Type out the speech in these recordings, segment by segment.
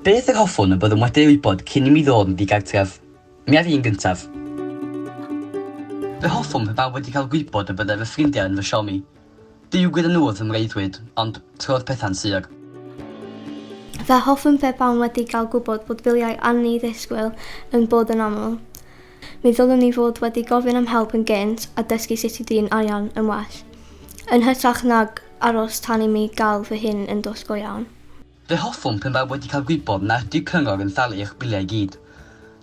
Beth yr hoffwn y byddwn wedi ei wybod cyn i mi ddod yn ddigartref? Mi ar un gyntaf. Fe hoffwn pe bawb wedi cael gwybod y byddai fy ffrindiau yn fy siomi. Duw gyda nhw wrth fy mreuddwyd, ond, trodd pethau'n sur. Fe hoffwn pe bawb wedi cael gwybod bod biliau anni-ddisgwyl yn bod yn aml. Mi ddylwn ni fod wedi gofyn am help yn gynt a dysgu sut i drin arian yn well, yn hytrach nag aros tan i mi gael fy hun yn dwll go iawn. Fe hoffwn pan faf wedi cael gwybod nad ydyw cyngor yn talu eich biliau i gyd.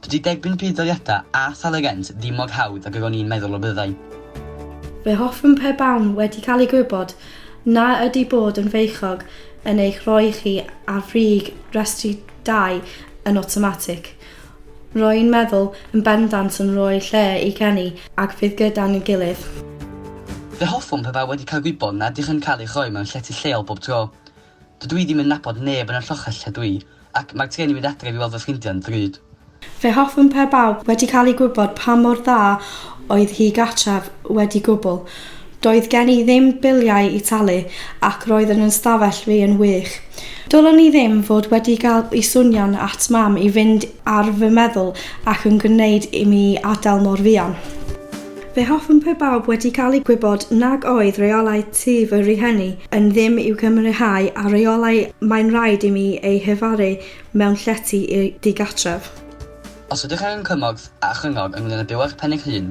Dydy derbyn budd-daliadau a thalu rent ddim mor hawdd ag yr o'n i'n meddwl y byddai. Fe hoffwn pe bawn wedi cael i gwybod na ydy bod yn feichiog yn eich rhoi chi ar frig restri dai yn awtomatig. Rwy'n meddwl yn bendant yn rhoi lle i ganu ac fydd gyda ni'n gilydd. Fe hoffwn pe bai wedi cael gwybod nad ydych yn cael eich rhoi mewn llety lleol bob tro. Dydw i ddim yn nabod neb yn y lloches lle dwi, ac mae'r trên yn mynd adref i weld fy ffrindiau'n ddrud. Fe hoffwn pe bai wedi cael ei gwybod pa mor dda oedd hi gartref wedi gwbl. Doedd gen i ddim biliau i talu ac roedd yn 'yn stafell fi yn wych. Dylwn i ddim fod wedi cael i swnio'n at mam i fynd ar fy meddwl ac yn gwneud i mi adael mor fuan. Fe hoffwn pe bawb wedi cael i gwybod nag oedd rheolau tŷ fy rhieni yn ddim i'w cymrihau â rheolau mae'n rhaid i mi eu hefaru mewn llety i'r digartref. Os ydych angen cymorth a chryngor ynglŷn â byw â'ch pen eich hun,